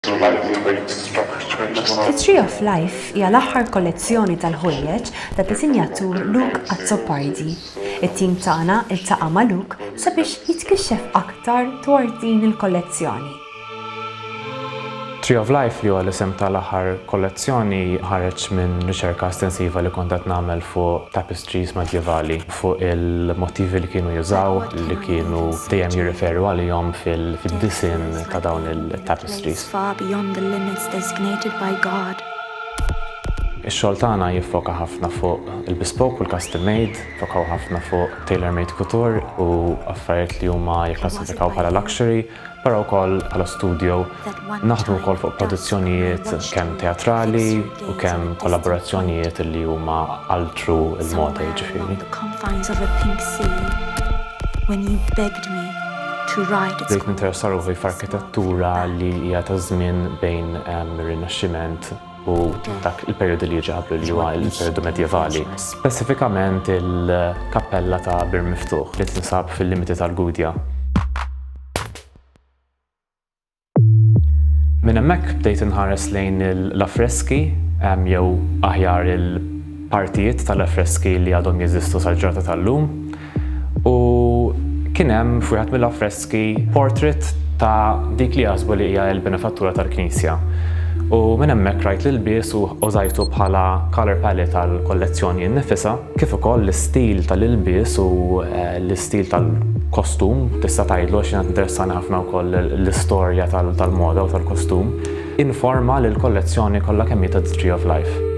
The Lightweight Structure Journal. The Tree of Life hija l-aħħar kollezzjoni tal-ħwejjeġ tad-disinjatur Luke Azzopardi. It-tim tagħna ltaqa' ma' Luke sabiex jitkixxef aktar dwar din il-kollezzjoni. Tree of Life, li huwa l-isem tal-aħħar kollezzjoni, ħareġ minn riċerka estensiva li kont qed nagħmel fuq tapestries. Trees Medjevali, fuq il-mottivi li kienu jużaw, li kienu dejjem jirreferu għalihom fid-disinn ta' dawn it-tapestries. Ix-xogħol tagħna jiffoka ħafna fuq il-bespoke u l-custom made, jiffokaw ħafna fuq tailor-made couture u affarijiet li huma jikklassifikaw bħala luxury. Però wkoll bħala studio naħdmu wkoll fuq produzzjonijiet kemm teatrali u kemm kollaborazzjonijiet li huma altru l-moda jiġifieri. Bdejt ninteressa ruħi f'arkitettura li hija taż-żmien bejn ir-Rinaxximent u dak il-perjodu li jiġi qablu li huwa l-perjodu medjevali. Speċifikament il-kappella ta' Bir Miftuħ li tinsab fil-limiti tal-Gudja. Minn hemmhekk bdejt inħares lejn l-affreski jew aħjar il-partijiet tal-affreski li għadhom jeżistu sal-ġrata tal-lum. u kien hemm f'wieħed mill-affreski portrait ta' dik li jaħsbu li hija l-benefattura tal-knisja. U minn hemmhekk rajt l-ilbies u użajtu bħala colour palette għall-kollezzjoni nnifisha, kif ukoll l-istil tal-ilbies u l-istil tal-kostum tista' tgħidlu għax jiena tinteressani ħafna wkoll l-istorja tal-moda u tal-kostum. Informa li l-kollezzjoni kollha kemm hi ta' The Tree of Life.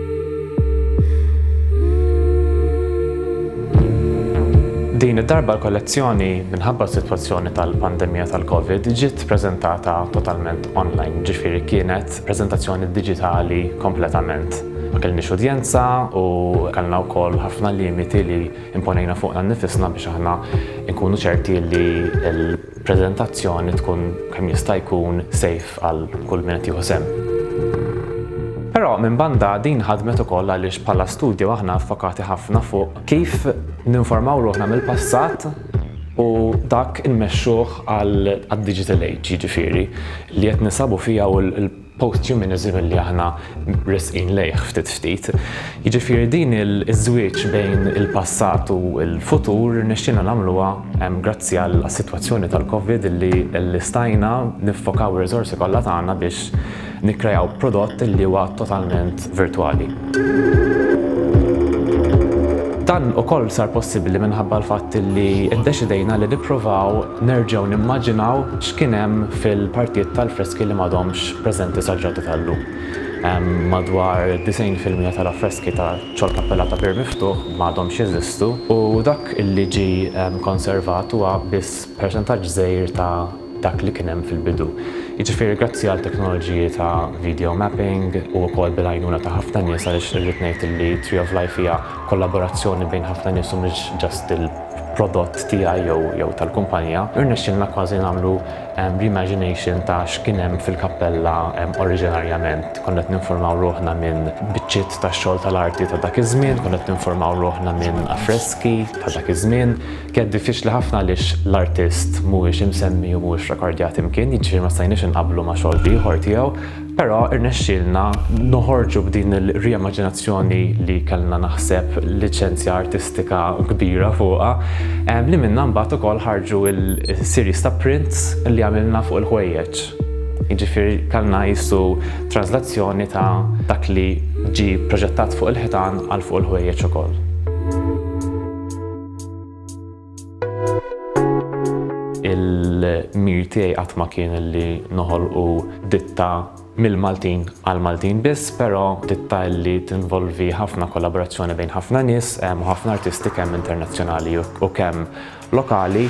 Din id-darba l-kollezzjoni, minħabba s-sitwazzjoni tal-pandemija tal-Covid, ġiet preżentata totalment online, ġifieri kienet preżentazzjoni diġitali kompletament. Ma kellniex udjenza u kellna wkoll ħafna limiti li imponejna fuqna nnifisna biex aħna nkunu ċerti li l. preżentazzjoni tkun kemm jista' jkun safe għal kull min qed jieħu sehem. Però minn banda din ħadmet ukoll għaliex bħala studju aħna fokati ħafna fuq kif ninformaw ruħna mill-passat u dak inmexxuh għal digital age jiġifieri li qed nisabu fija u post-humanism li aħna resqin lejh ftit ftit. Jiġifieri din iż-żwieġ bejn il-passat u l-futur irnexxielna nagħmluha grazzi għas-sitwazzjoni tal-Covid li stajna niffokaw ir-riżorsi kollha tagħna biex nikkreaw prodott li huwa totalment virtwali. Dan ukoll sar possibbli minħabba l-fatt li ddeċidejna li nippruvaw nerġgħu nimmaġinaw x'kien hemm fil-partijiet tal-freski li m'għadhomx preżenti sal-ġrata tal-lum. Madwar 90% tal-affreski ta' ċol kappella ta' Pier Miftuħ m'għadhomx jeżistu u dak li ġie konservat huwa biss percentaġġ żgħir ta' dak li kien hemm fil-bidu. Jiġifieri grazzi għal teknoloġiji ta' video mapping u wkoll bil-għajnuna ta' ħafna nies għaliex irrid ngħid li Tree of Life hija kollaborazzjoni bejn ħafna nies u mhux just il-prodott tiegħi jew jew tal-kumpanija, irnexxielna kważi nagħmlu reimagination ta' x'kien hemm fil-kappella oriġinarjament. Konna qed ninfurmaw ruħna minn biċċiet ta' xogħol tal-arti ta' dak iż-żmien, konna qed ninfurmaw ruħna minn affreski ta' dak iż-żmien, Kienet diffiċli ħafna għaliex l-artist mhuwiex imsemmi u mhuwiex rekordjat imkien, jiġifieri ma stajniex inqabblu ma' xogħol ieħor tiegħu, però rnexxielna noħorġu b'din ir-riemaġinazzjoni li kellna naħseb liċenzja artistika kbira fuqha, li minnha mbagħad ukoll ħarġu l-series ta' prints li għamilna fuq il-ħwejjeġ. Jiġifieri kellna qisu tranżlazzjoni ta' dak li ġie proġettat fuq il-ħitan għal fuq il-ħwejjeġ ukoll. Il-mir tiegħi qatt ma kien li noħolqu ditta mill-Maltin għal Maltin biss, però ditta li tinvolvi ħafna kollaborazzjoni bejn ħafna nies u ħafna artisti kemm internazzjonali u kemm lokali.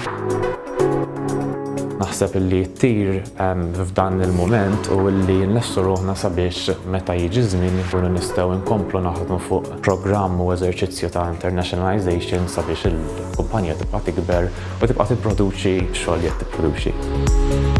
Naħseb li tir f'dan il-mument u li nlessu ruħna sabiex meta jiġi żmien nkunu nistgħu nkomplu naħdmu fuq programm u eżerċizzju ta' internationalization sabiex il-kumpanija tibqa' tikber u tibqa' tipproduċi x-xogħol li qed tipproduċi.